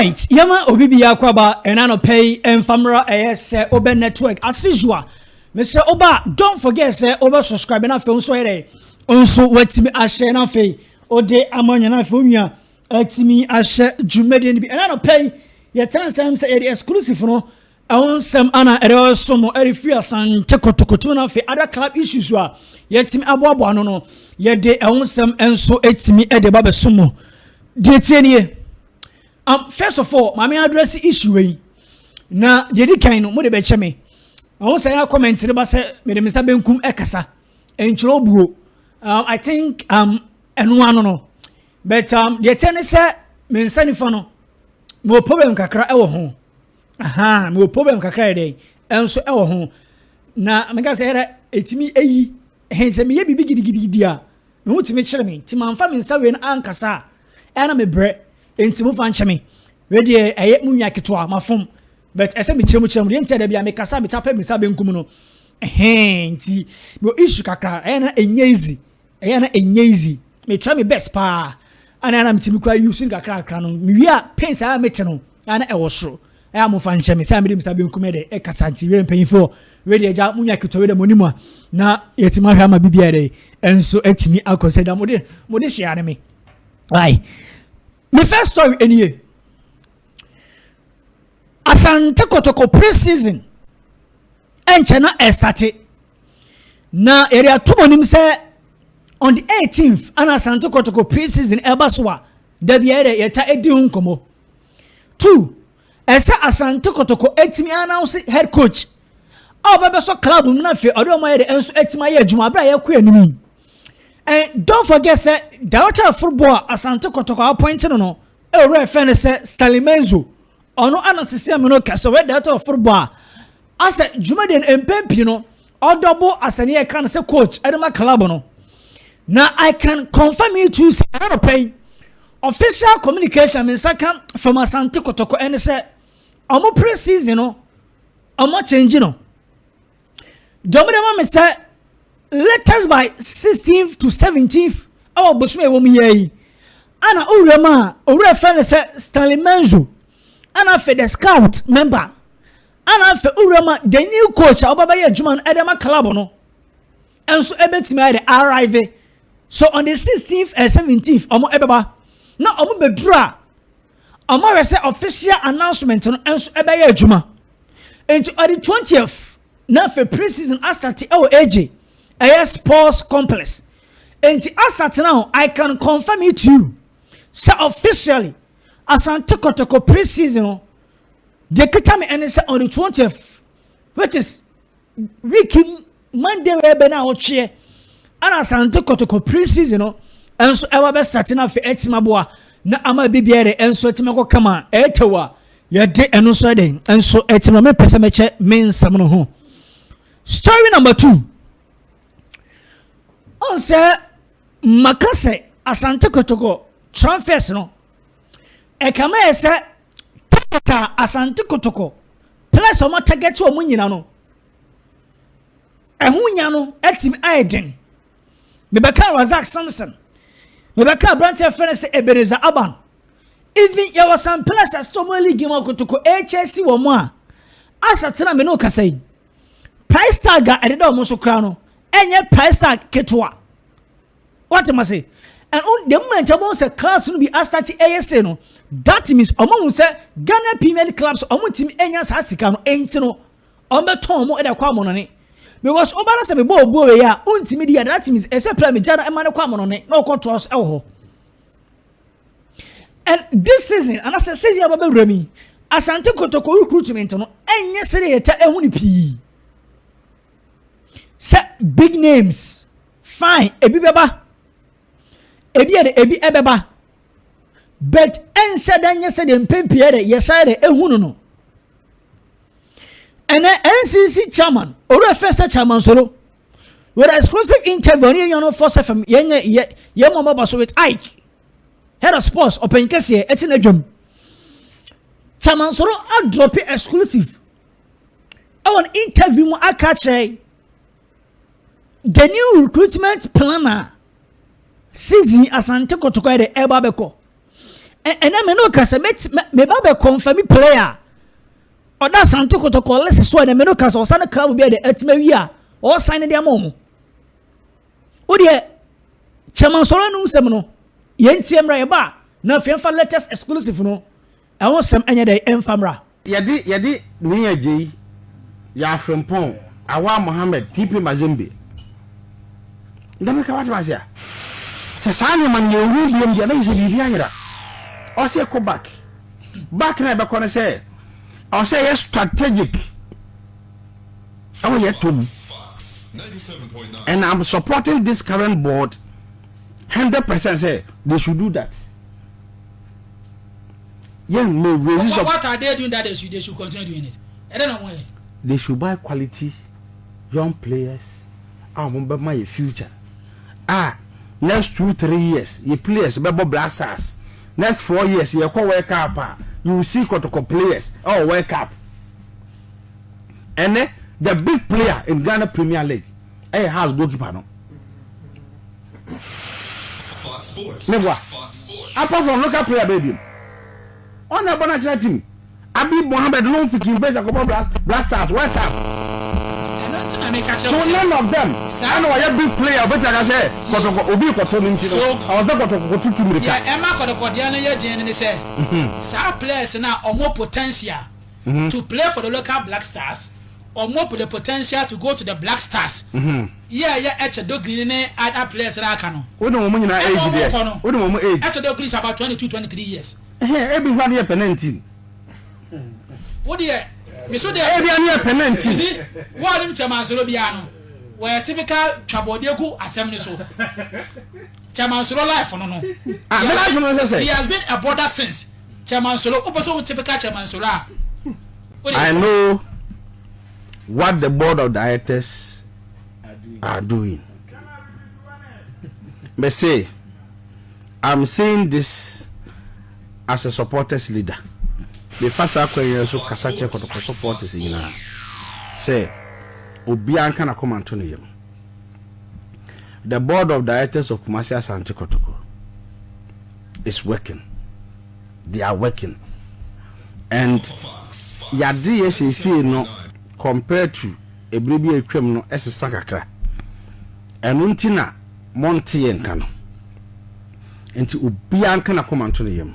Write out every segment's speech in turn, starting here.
Enti yɛma obi biara kɔ aba ɛna anɔpɛ yi ɛmfa mmra ɛyɛ sɛ wobɛ network as usual mesrɛ woba a don't forget sɛ wobɛ subscribe na afei nso yɛdɛ nso watumi ahyɛ na afei wode ama nyɛ na afei onua atumi ahyɛ dwumadie no bi ɛna anɔpɛ yi yɛtena nsɛm sɛ yɛde exclusive no ɛho nsɛm ana ɛde ɔso mo ɛde firi asante kotokoto na afei ada club issues a yɛtumi aboaboa no no yɛde ɛho nsɛm nso atumi ɛde ba bɛso mo deɛ tie nie um, first of all maame address issue wei na deɛ di kan no mo de bɛkyɛ me ɔho sɛ yɛ comment no ba sɛ mede me nsa benkum ɛkasa ɛnkyerɛ obuo um, i think um, ɛno ano no but um, deɛ kyɛ ne sɛ me nsa nifa no mewɔ problem kakra ɛwɔ ho aha mewɔ problem kakra yɛ dɛn ɛnso ɛwɔ ho na meka sɛ ɛrɛ ɛtumi ɛyi ɛhɛn sɛ meyɛ biribi gidigidigidi a Me ho tumi kyere me nti manfa me nsa wei no ankasa a ɛyɛ na mebrɛ nti mo fa nkyɛ me wei deɛ ɛyɛ mo nua ketewa mafom but ɛsɛ mekyerɛ mu kyerɛ mu deɛ nti a da bi a mekasa meta pɛ me nsa benkum no ɛhɛn nti mewɔ issue kakra ɛyɛ na ɛnyɛ easy ɛyɛ na ɛnyɛ easy metra me best paa ana na metumi kura using kakra kakra no mewie a pains a mete no ana ɛwɔ soro Ɛyɛ a momfa nhyɛ me sɛ mede me sa benkum yɛ dɛ ɛkasa nti wei mpanyinfoɔ wei deɛ agya mo nya ketewa wei deɛ mo nim a na yɛtumi ahwɛ ama biribi ayɛ dɛ ɛnso atumi akɔ sɛ da mo de mo de hyia ne me ayi me first story ɛni yɛ asante kotoko pre season ɛnkyɛ na ɛstate na yɛde ato mo nim sɛ on the 18th ana asante kotoko pre season ɛba so a dabi ayɛ dɛ yɛta ɛdi ho nkɔmɔ Two, ɛsɛ Asante Kotoko atumi announce head coach a ɔbɛbɛsɔ club mu na afei ɔde wɔn ayɛ de nso atumi ayɛ adwuma abere a yɛkɔ anim yi. And don't forget sɛ director of football a Asante Kotoko appoint no no ɛwura ɛfɛ no sɛ Stanley Menzo ɔno ana sisi amino kɛse ɔyɛ director of football a asɛ dwumadie no mpɛn pii no Ɔdɔ bo asɛnneɛ a yɛka no sɛ coach de ma club no, na I can confirm it to you sɛ ɛyɛ nɔpɛ yi. Official communication me nsa ka from Asante Kotoko ɛne sɛ wɔn pre-season no wɔn akyɛngye no. Deɛ wɔde ma me sɛ latest by 16th to 17th ɛwɔ bosom a ɛwɔ mu yɛ yi ana owura mu a owura fɛ no sɛ Stanley Menzo ana afei the scout member Ana afei wo wura ma the new coach a ɔba bɛyɛ adwuma no ɛde ma club no ɛnso ɛbɛtumi ayɛ de arrive so on the sixteenth and eh, seventeenth ɔmo ɛbɛba na ɔmo bɛduru a ɔmo ahwɛ sɛ official announcement no ɛnso ɛbɛyɛ adwuma nti ɔde twentieth na afei pre season asate ɛwɔ agye ɛyɛ sports complex nti asate na ho i can confirm it to you sɛ officially asante kɔtɔkɔ pre season no Deɛ ɛkita me ɛne sɛ on the twentieth which is week Monday wei bɛ na ɔtweɛ ɛna Asante Kotoko pre-season no ɛnso ɛba bɛ start na afei ɛtumi aboa na ama bi biara ɛnso ɛtumi akɔ kama ɛɛtɛw a yɛde ɛno nso ɛde ɛnso ɛtumi ame pɛ sɛ mɛkyɛ me nsɛm no ho story number two ɔn sɛ maka sɛ Asante Kotoko transfers no Ɛkame sɛ Tokota, Asante Kotoko, players a wɔn atagɛte wɔn nyina no, ɛho nya no atumi ayɛ den. Mebɛka Razak Samson, mebɛka aberanteɛ fɛ no sɛ Ebereza Aban. Even yɛwɔ some players a still wɔn league mu akotoko ɛkyɛsi wɔn a asa tena me ne okasa yi. Price tag a ɛdeda wɔn so koraa no, ɛnyɛ price tag ketewa. Wate mase? Ɛno the moment ɔmo sɛ clubs no bi asate ɛyɛ se no, that means ɔmo hu sɛ Ghana Premier League clubs ɔmo ntumi enya saa sika no, enti no ɔmo bɛtɔn ɔmo de akɔ amonɔne. Because ɔba na sɛ mebɔ obuo wei a, ontumi di a, that means ɛsɛ pla megya no ɛma no kɔ amonɔne na ɔkɔ toa so ɛwɔ hɔ. And this season, and as a season aba bɛwura mi, Asante Kotoko recruitment no, ɛnyɛ sɛ yɛta ɛho ne pii. Sɛ big names Fine, ebi bɛba. Ebi yɛ dɛ, ebi ɛbɛba. But ɛnhyɛ dɛ nyɛ sɛ deɛ mpɛn pii yɛ dɛ yɛhyɛ dɛ ehu no no. Ɛnɛ NCC chairman, owurɛ fɛ sɛ chairman solo. With exclusive interview, ɔne yɛn nyɛ no fɔ sɛ fam, yɛn nyɛ yɛ yɛn mu ɔbɛba so with Ike. Head of sports, ɔpɛn kɛseɛ, ɛte na dwam. Chairman solo adrɔpe exclusive. Ɛwɔ no interview mu aka kyerɛ the new recruitment plan a season asante kɔtɔkɔ de ɛba bɛkɔ ɛnna me no kasa meba bɛkɔ nfa mi player ɔda asante kɔtɔkɔ lɛsɛ so ɛnna me no kasa ɔsan club bi a de ɛtuma wi a ɔsan ne de ama wɔn o deɛ kyɛmansɔrɔ anum sɛm no yɛn tie mmra yɛ ba na afei nfa latest exclusive no Ɛho sɛm ɛnyɛ dɛ ɛmfa mmra. Yɛde yɛde Nii Agyei, Yaa Frimpong, Awaa Mohammed, TP Mazembe na meka wate ase a, sɛ saa nneɛma no yɛwɔ mu biom deɛ na kyerɛ sɛ biribi ayera. Ɔwɔ sɛ yɛkɔ back. Back no a yɛbɛkɔ no sɛ ɛwɔ sɛ yɛyɛ strategic ɛwɔ yɛn tɔ mu. And I'm supporting this current board 100% sɛ they should do that. yɛn mma ewura yi. What are they doing that they should they should continue doing it? Ɛdɛ na wɔn yɛ. They should buy quality young players a wɔn bɛ ma yɛ future a next two three years yɛ players bɛ bɔ Black Stars next four years yɛ kɔ World Cup a you see kɔtɔkɔ players ɛwɔ World Cup ɛnɛ the big player in Ghana Premier League ɛyɛ house goalkeeper no. Meboa. Apart from local player bɛɛ biom. Ɔn na ɛbɔ no akyerɛ team. Abi Mohammed loan fi King Faisal kɔbɔ Black Stars, west ham. So none of them ɛna ɔyɛ big player obetumi aka sɛ kɔtɔkɔ obi kɔtɔ no nti no ɛwɔ sɛ kɔtɔkɔ kɔtutu mirika. Deɛ ɛma kɔtɔkɔdeɛ no yɛ den no ne sɛ saa players no a wɔwɔ potential to play for the local Black Stars, ɔmo pɛ the potential to go to the Black Stars, yɛɛyɛ ɛkyɛ Dogrini ne other players no aka no, ɛna ɔmo kɔ no, ɛkyɛ Dogrini is about twenty two, twenty three years. Ɛhɛɛ, ɛbi hɔ adeɛ pɛ nineteen. Wo deɛ, me so deɛ. Ɛbi adeɛ pɛ nineteen. You see, wo a nim Chairman Soro biara no, wɔyɛ typical twa bɔɔdeɛ gu asɛm no so. Chairman Soro life no no, Ah, me life no sɛ sɛ. he has been a border since. Chairman Solo, wopɛ sɛ wo typical Chairman Solo a, wode I know what the board of directors are doing. Me say, I'm saying this as a supporters leader. Me fa saa kwan yi so kasa kyerɛ kɔtɔkɔ supporters nyinaa sɛ obiara nka na kɔma nto ne yam. The board of directors of Kumasi Asante Kotoko is working they are working and yadeɛ seesei no compared to ɛberɛ bi a atwam no ɛsesa kakra ɛno nti na monte yɛ nka no nti obiara nka na kɔma nto ne yam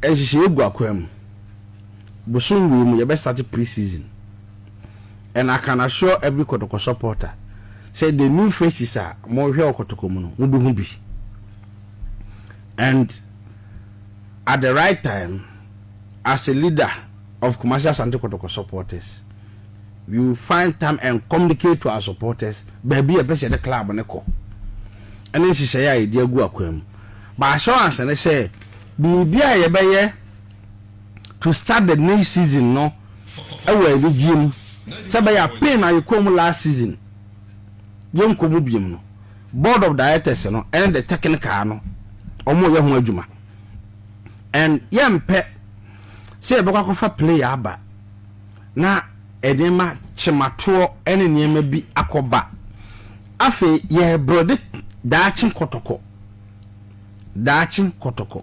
ɛnhyehyɛ egu akwan mu bosom wei mu yɛbɛ start pre-season and I can assure every Kotoko supporter sɛ the new faces a morehwɛ wɔ Kotoko mu no mobɛhu bi and at the right time as a leader of Kumasi Asante Kotoko supporters we will find time and communicate to our supporters baabi a yɛpɛ sɛ yɛde club no kɔ ɛne nhyehyɛeɛ a yɛde agu akwan mu but assurance ne sɛ biribi a yɛbɛyɛ to start the new season no wɔ anigyeɛ mu sɛ ɛbɛyɛ a pain a yɛkɔɔ mu last season yɛnkɔ mu biom no board of directors no ne the technical no wɔreyɛ ho adwuma and yɛmpɛ sɛ yɛbɛkɔ akɔfa player aba na nneɛma kyematoɔ ne nneɛma bi akɔba afei yɛrebrɛde daakye kɔtɔkɔ daakye kɔtɔkɔ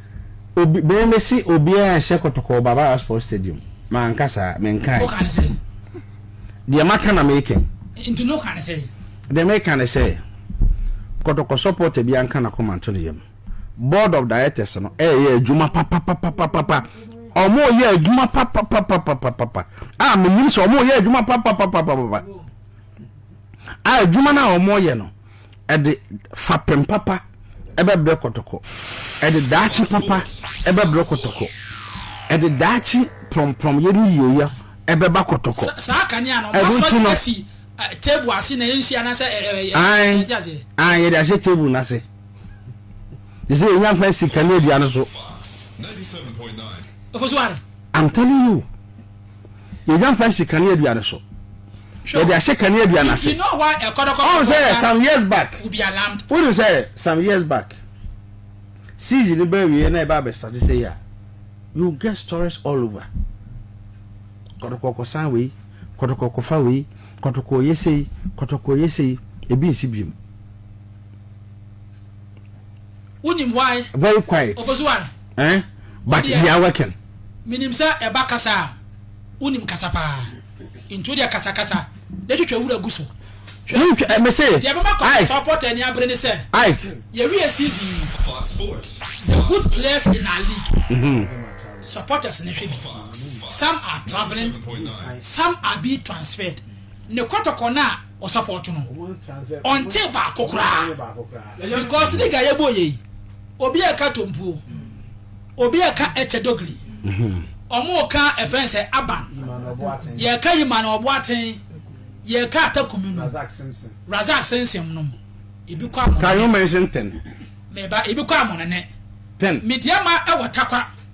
Obi bɛn me se obiara nhyɛ kɔtɔkɔɔ ba Barra Sports Stadium. Manka saa, menkae. Woka ne sɛn? Deɛ maka na meka yi. Nti na woka ne sɛn? Deɛ meka ne sɛ, kɔtɔkɔ supporter biara nka n'akoma nto ne yam. Board of Directors no ɛreyɛ adwuma papapapapapa. Wɔreyɛ adwuma papapapapapa. A menim sɛ wɔreyɛ adwuma papapapapapa. A adwuma no a wɔreyɛ no, Ɛde fapem papa bɛbrɛ kɔtɔkɔ. Ɛde daakye papa bɛbrɛ kɔtɔkɔ. Ɛde daakye prɔmprɔmyɛ ne yieyɛ bɛba kɔtɔkɔ. Saa kanea no, wɔasɔ no asi table ase na ɛnhye anaasɛ ɛte aseɛ? Ae, yɛde ahyɛ table no ase. Te sɛ yɛhia mfa asi kanea dua no so. I'm telling you. yɛnya mfa nsi kaneadua no so yɛde ahyɛ kaneadua no ase ɔn sɛ some years back wonim sɛ some years back season no bɛawieɛ na ɛba abɛsate sɛ yi a you get stories all over kɔtɔkɔ kɔsan wei kɔtɔkɔ kɔfa wei kɔtɔkɔ yɛ sei kɔtɔkɔ yɛ sei ebi nsi biom Wonim why? Very quiet. Ofosuware. Eh? But they are working. Minim sɛ ɛba kasa a, wonim kasa paa. Nti wodeɛ kasakasa na twitwa wura gu so. Hwɛ, eh, mese, deɛ bɛma kɔsa sɛ ɔpɔtɛ ani abere ne sɛ, yɛwie season yi, the good players in our league, mm-hmm. supporters ne hwɛ bi. Some are traveling, some are being transferred. Ne kɔtɔkɔ no a ɔsapɔɔto no ɔnte baako koraa because ne ga yɛbɔ yɛ yi obi a ɛka tompuo obi a ɛka ɛkyɛ dogili ɔmo mhm. ka ɛfɛn sɛ aban yɛka yi ma na ɔbo aten yɛka atakumi no razak sensem nom ebi kɔ amɔnene meba ebi kɔ amɔnene media ma ɛwɔ takwa.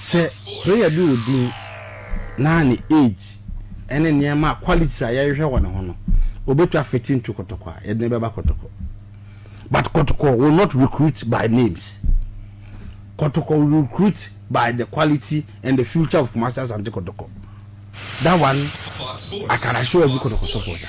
Sɛ player bi wɔ din na ne age ɛne nneɛma qualities a yɛhwehwɛ wɔ ne ho no, obetwa fit into kɔtɔkɔ a yɛde ne bɛba kɔtɔkɔ. But kɔtɔkɔ will not recruit by names. Kɔtɔkɔ will recruit by the quality and the future of Kumasi Asante Kɔtɔkɔ. That one I can assure every kɔtɔkɔ supporter.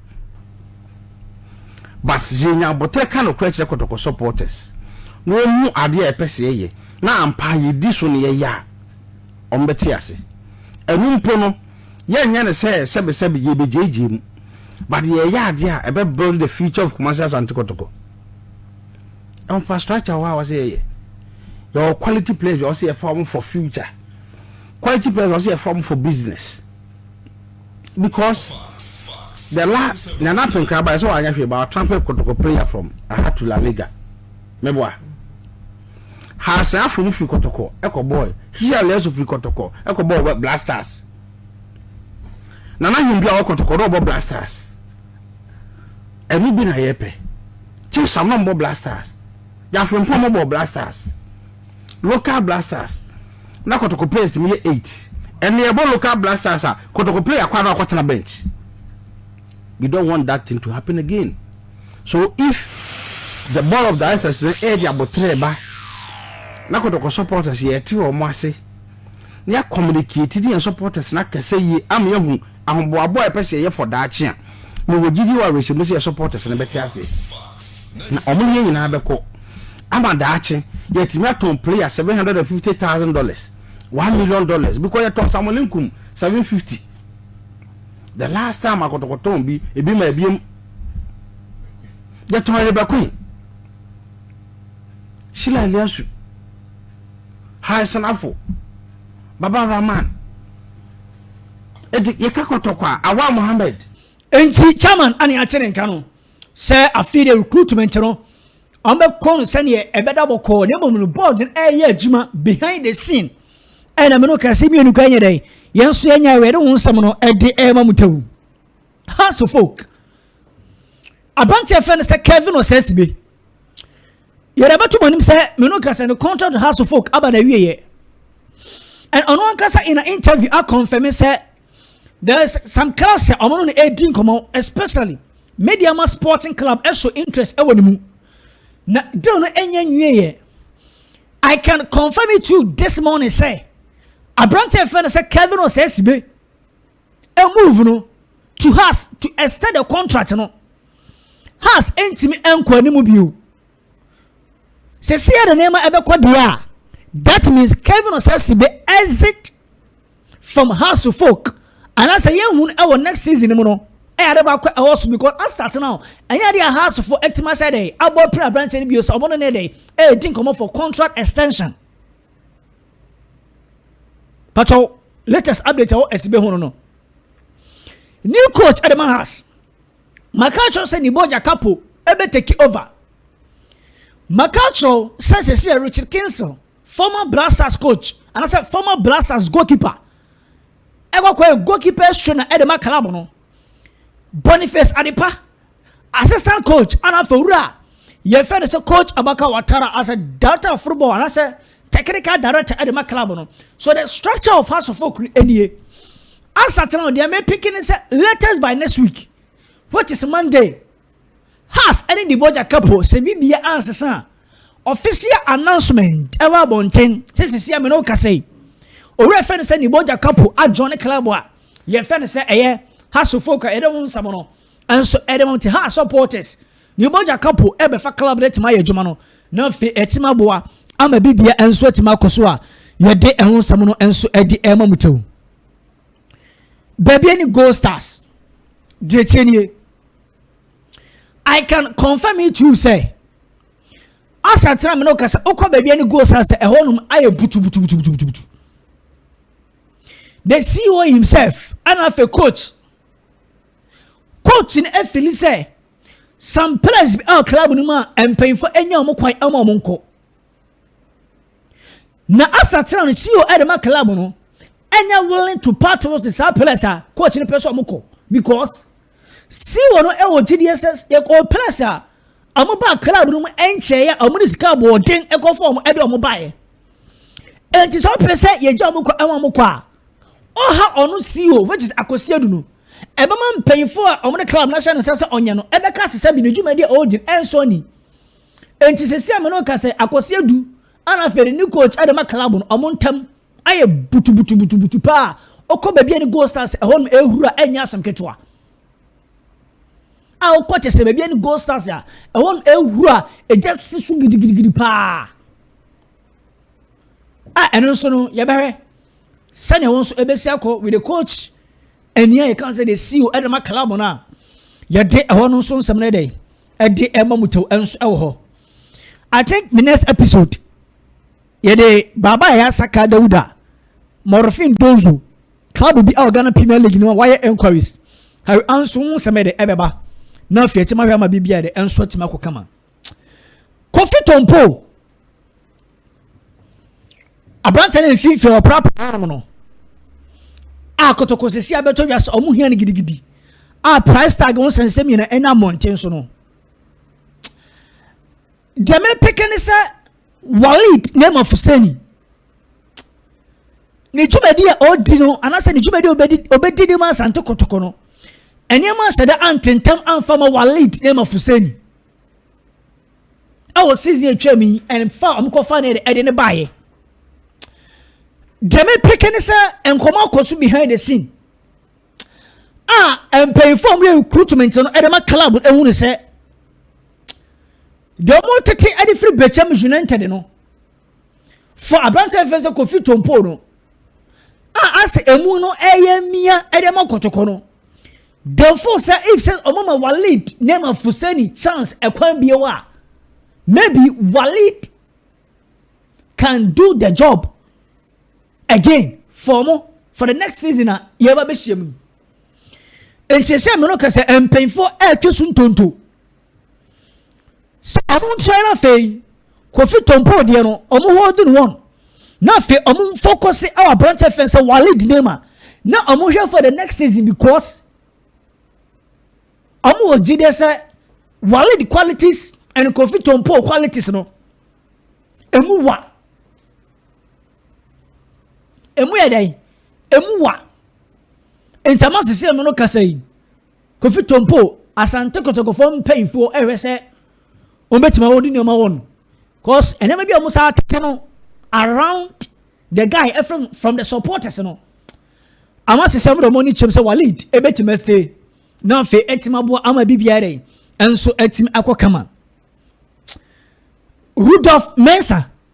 but yenya aboterɛ ka nokorɛ kyerɛ kɔtɔkɔ supporters na wɔhu adeɛ a yɛpɛ sɛ yɛyɛ na ampa yɛdi so na yɛyɛ a wɔbɛte ase ɛno mpo no yɛnyɛ no sɛ sɛbesɛbe yɛbɛgyeegyee mu but yɛyɛ adeɛ a ɛbɛ build the future of Kumasi Asante Kɔtɔkɔ infrastructure wɔ a wɔsɛ yɛyɛ yɛwɔ quality players wɔsɛ yɛfa wɔn for future quality players wɔsɛ yɛfa wɔn for business because the la nana apenkra ba ɛsɛ wanyɛ hwee ba ɔtransfer kotoko player from aha to la liga mɛboa haasɛ afom firi kotoko ɛkɔ bɔɔl hia lɛso firi kotoko ɛkɔ bɔɔl blasters nana him bi a ɔwɔ kotoko na ɔbɔ blasters ɛno bi na yɛpɛ chief sam na ɔbɔ blasters yafrempɔn ɔbɔ blasters. local blood cells na kɔtɔkɔ players tumi yɛ eight ɛnna yɛbɔ local blood cells a kɔtɔkɔ player kɔ ano akɔtena bench we don't want that thing to happen again so if the board of directors no ɛyɛ de abotire ba na kɔtɔkɔ supporters yɛ ɛte wɔn ase na yɛ communicate ne yɛn supporters na kɛse yie ama yɛn ho. Ahoboabo a yɛpɛ sɛ yɛyɛ for daakye a, mewɔ gyidi wɔ awerɛhyɛmu sɛ yɛn supporters no bɛte ase na wɔne yɛn nyinaa bɛkɔ ama daakye yɛatumi atɔn player seven hundred and fifty thousand dollars one million dollars because yɛtɔn Samuel Nkum seven fifty the last time akɔtɔkɔtɔn bi ebi ma ebiem yɛtɔn Rebecca Sheila Eliasu Harrison Afo Baba Rahman. Eti yɛka kɔtɔ kwa awa Mohammed. Enti Chairman ane ate ne nka no sɛ afei deɛ recruitment no wɔbɛkɔ no sɛdeɛ ɛbɛda bɔkɔɔ na mmom no board no ɛreyɛ adwuma behind the scene ɛna me no kaa sɛ mmienu kora nyɛ dɛn yɛn nso yɛnyae wɔ yɛde ho nsɛm no ɛde ɛrema mu tawu house of folk aberanteɛ fɛ no sɛ Kevin Osesibe Yɛde abɛto mo anim sɛ me no ka sɛ ne contract with House of Folk aba n'awieɛ. And ɔno ankasa in an interview a confirm sɛ there is some clubs sɛ ɔmo no na ɛredi nkɔmɔ especially media ma sporting club ɛso interest ɛwɔ ne mu na deal no ɛnyɛ nwieɛ. I can confirm it to you this morning sɛ aberante ɛfɛ no sɛ Kevin Osesibe move no to Haas to extend the contract no Haas ntumi nkɔ anim bio sɛsi ɛde nneɛma ɛbɛkɔ deɛ a that means Kevin Osasi be exit from Haas folk anaasɛ yɛhu no ɛwɔ next season mu no ɛyɛ ade baako ɛwɔ so because asate no ɛnyɛ ade a Haas fo ɛtumi asɛ dɛ abɔ pira aberanteɛ no bio sɛ ɔmo no ne dɛ ɛredi nkɔmɔ for contract extension patwɛw latest update ɛwɔ ɛsibe ho no no new coach ɛde ma has maka kyerɛw sɛ niboja kapo ɛbɛ take over maka kyerɛw sɛ sɛsi yɛ richard kinsel former blasters coach anasɛ former blasters goalkeeper ɛkɔkɔ yɛ goalkeeper sona ɛde ma club no boniface adepa Assistant coach ana afei wura a yɛfɛ no sɛ coach Abaka Watara as a director of football anaasɛ technical director de ma club no so the structure of house of folk no nie asatena no deɛ mepeke ne sɛ latest by next week which is monday has ɛne de bɔgya kapo sɛ bibia ansesa a official announcement ɛwɔ abɔnten sɛ sisi a mene wo kasa yi owura fɛ no sɛ ne bɔgya kapo adwɔne club a yɛfɛ no sɛ ɛyɛ house of folk a yɛde ho nsɛm no Nso ɛde wɔn te ha supporters ne bɔgya ka po ɛbɛfa club no atumi ayɛ adwuma no na afei atumi aboa ama bibia nso atumi akɔ so a yɛde ɛho nsɛm no nso ɛde ɛma mu tew baabi ne gold stars deɛ tie nie I can confirm it to you sɛ asa tena mene kasa wokɔ baabi ne gold stars sɛ ɛhɔ nom ayɛ butubutubutubutubutu the CEO himself ɛna afei coach Coach no afili sɛ some players bi a club no mu a mpanyinfo anya wɔn kwan ama wɔn nkɔ. Na asakyera no CEO ɛde ma club no ɛnyɛ willing to part with saa players a coach no pɛ sɛ wɔn kɔ because CEO no ɛwɔ gyidie sɛ yɛkɔ players a wɔn ba club no mu ɛnkyɛɛ a wɔn de sika aboɔden ɛkɔfɔ wɔn ɛde wɔn baeɛ. Nti sɛ wɔpɛ sɛ yɛgya wɔn kɔ ɛma wɔn kɔ a. ɔha ɔno CEO which is Akosi Adu no, ɛbɛma mpanyinfoɔ a wɔn de club n'ahyɛ no nsa sɛ ɔnyɛ no ɛbɛka ase sɛ bi ne dwumadi a ɔredi ɛnsɔ ani. Nti sɛsi a me no ka sɛ Akosi Adu ana afei ne coach ɛde ma club no wɔn ntam ayɛ butubutubutubutu paa ɔkɔ baabi a ne goal stars ɛhɔ nom ɛhuru a ɛnyɛ asɛm ketewa a ɔkɔ kyɛ sɛ baabi a ne goal stars a ɛhɔ nom ɛhuru a ɛgya si so gidigidigidi paa. a ɛno nso no yɛbɛhwɛ sɛnea wɔn nso ɛbɛsi akɔ with the coach ɛni a yɛka sɛ de si o ɛde ma club no a yɛde ɛhɔ no nso nsɛm no ɛdɛ ɛde ɛma mu tɛw ɛnso ɛwɔ hɔ i think my next episode yɛde baaba a yɛasaka dawuda morfin donzo club bi a ghana premier league no a wayɛ enquiries harry anso ho nsɛm ɛdɛ ɛbɛba na afei ɛtima hwɛ ama biribi a ɛdɛ ɛnso ɛtima kɔ kama kofi tompo aberanteɛ no mfimfini ɔprapra nom no a kotoko sisi abɛtɔ dwa sɛ ɔmo hia no gidigidi a price tag ho sɛnsɛm nyina ɛna mmɔnten so no deɛ mepeke ne sɛ Walid Nema Fuseni ne dwumadi a ɔredi no anaasɛ ne dwumadi a ɔbɛdi ne ma Asante Kotoko no nneɛma asɛdɛ antentam amfa ma Walid Nema Fuseni ɛwɔ season atwa mu yi ɛnfa wɔn kɔfa ne ɛde ne baeɛ deɛ mepeke ne sɛ nkɔmɔ akɔ so behind the scene a mpanyinfoɔ a wɔyɛ recruitment no de ma club no ehu ne sɛ deɛ wɔn tete de firi bɛkyɛm united no for aberanteɛ fɛn sɛ kofi tompo no a asɛ emu no ɛyɛ mia de ma kɔtɔkɔ no dɛmfo sɛ if sɛ wɔn ma walid nneɛma fusani chance ɛkwan bie wa maybe walid can do the job. Again for ɔmo for the next season a yɛba bɛhyia mu yi. Nti sɛ mene ka sɛ mpanyinfoɔ ɛretwe so ntonto. Sɛ ɔmo nkyɛn no afei kofi tɔmpɔ deɛ no ɔmo holding wɔn na afei ɔmo nfokɔse ɛwɔ aberanteɛ fɛn sɛ wale di name a na ɔmo hwɛ for the next season because ɔmo wɔ gyi deɛ sɛ wale di qualities and kofi tɔmpɔ qualities no emu wa. Emu yɛ dɛn? Emu wa. Ntama sisi emu no kasa yi. Kofi Tompo, Asante Kotokofoɔ mpanyinfoɔ ɛhwɛ sɛ wɔn bɛtumi wɔn de nneɛma wɔn. Cause nneɛma bi a wɔn saa tete no around the guy ɛfrɛ from the supporters no. Ama sisi emu de wɔn ani kyɛm sɛ wɔn lead ɛbɛtumi ɛsɛ. Na afei ɛtumi aboa ama bi biara dɛ ɛnso ɛtumi akɔ kama. Rudolph Mensah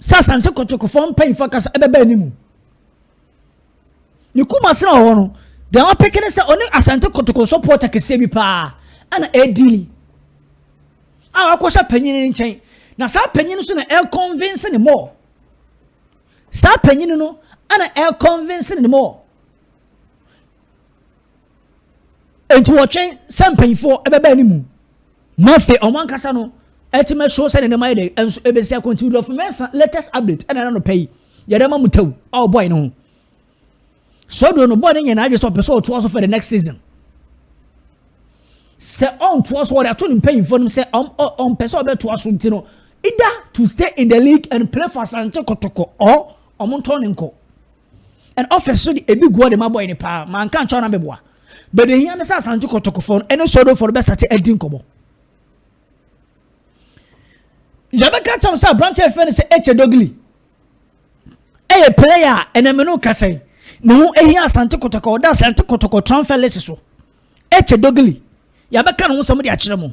sɛ Asante Kotokofoɔ mpanyinfoɔ akasa ɛbɛba anim. Ne kuma sena wɔ hɔ no, deɛ wapeke ne sɛ ɔne Asante Kotoko sɔpɔta kɛseɛ bi paa ɛna ɛdili a wakɔhyɛ panyin no nkyɛn na saa panyin no so na ɛkɔnvinse ne mɔɔ saa panyin no ɛna ɛkɔnvinse ne mɔɔ Enti wɔtwɛn sɛ mpanyinfoɔ ɛbɛba anim na afei wɔn ankasa no ɛtumi ɛso sɛ ne nneɛma yɛ dɛ ɛnso ɛbɛsi akɔ nti wudɔfo mɛnsa latest update ɛna ɛna nɔpɛ yi yɛde ama mu tɛw a ɔbɔe no ho sɔduro no bɔe no nyɛ n'adwe sɛ ɔpɛ sɛ ɔtoa so for the next season sɛ ɔntoa so ɔde ato ne mpanyinfoɔ no sɛ ɔmpɛ sɛ ɔbɛtoa so nti no either to stay in the league and play for asante kɔtɔkɔ or ɔmo ntɔn ne nkɔ. And office so de ebi guɔ de ma boy no paa ma anka ankyɛ ɔna bɛboa. But deɛ hia ne sɛ Asante Kɔtɔkɔfoɔ no ɛne Sodofo no bɛsate adi nkɔmɔ. Yɛbɛka kyɛm sɛ aberanteɛ fɛ no sɛ Eche Dogili ɛyɛ player a ɛnɛ me no kasa yi ne ho ɛhia Asante Kɔtɔkɔ ɔda Asante Kɔtɔkɔ transfer list so Eche Dogili yɛbɛka ne ho sɛm de akyerɛ mo.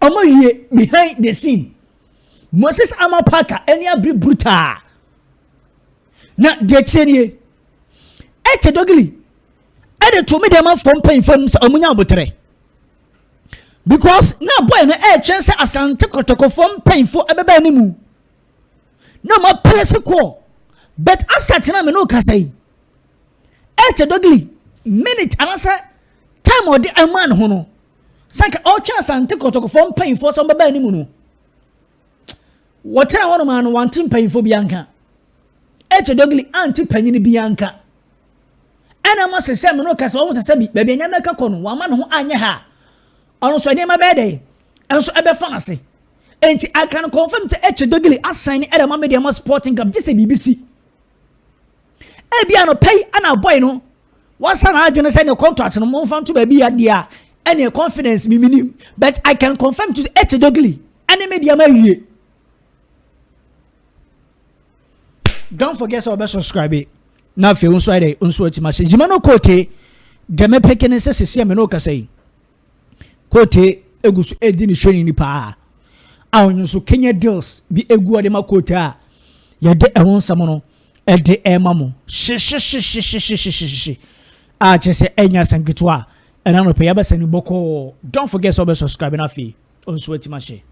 Wɔawie Behind the Scene. Moses Ama Parker ani abere brutaa. Na deɛ ɛteɛ nie, ɛkyɛ Dogili ɛde to me deɛ ma fam mpanyinfoɔ anim sɛ wɔn nya aboterɛ because na boy no ɛretwɛn sɛ asante kɔtɔkɔfoɔ mpanyinfoɔ ɛbɛbɛn ne mu na wɔn apere se kɔɔ but asa tena me no kasa yi ɛkyɛ Dogili minute anaasɛ time ɔde ɛmaa ne ho no Sɛ anka ɔretwɛn Asante Kɔtɔkɔfoɔ mpanyinfoɔ sɛ wɔbɛba anim no, wɔtena hɔnom a no wante mpanyinfoɔ bi anka. Eche Dogili ante panyin bi anka. Ɛna ma sɛ sɛ me no ka sɛ wɔn sɛ sɛ bi baabi anyame ka kɔ no wɔama ne ho anyɛ ha. Ɔno nso nneɛma bɛyɛ dɛ nso ɛbɛfa no ase. Enti aka no confirm sɛ Eche Dogili asan ne ɛdɛ ma me deɛ ma Sporting Club gye sɛ biribi si. Ebi anɔpa yi ɛna boy no Wasa na adwene sɛ ne contract no momfa nto baabi ya deɛ a ɛne confidence me menim but I can confirm to H Dogili ɛne me deɛ ma wie. Don't forget sɛ ɔbɛ subscribe na afei nso ayɛ dɛ nso ati ma hyɛ gyima no koote deɛ mɛpeke ne sɛ sisi a me ne okasa yi. Koote gu so redi ne hwɛni ni paa a ɔno nso Kenya deals bi gu ɔde ma Koote a yɛde ɛho nsɛm no ɛde ɛma mo hyehyehyehyehyehyehyehye a kyerɛ sɛ ɛnyɛ asɛm ketewa a ɛna nɔpɛ yɛabɛsɛ no bɔkɔɔ don't forget sɛ ɔbɛ subscribe no afei ɔnso atima hyɛ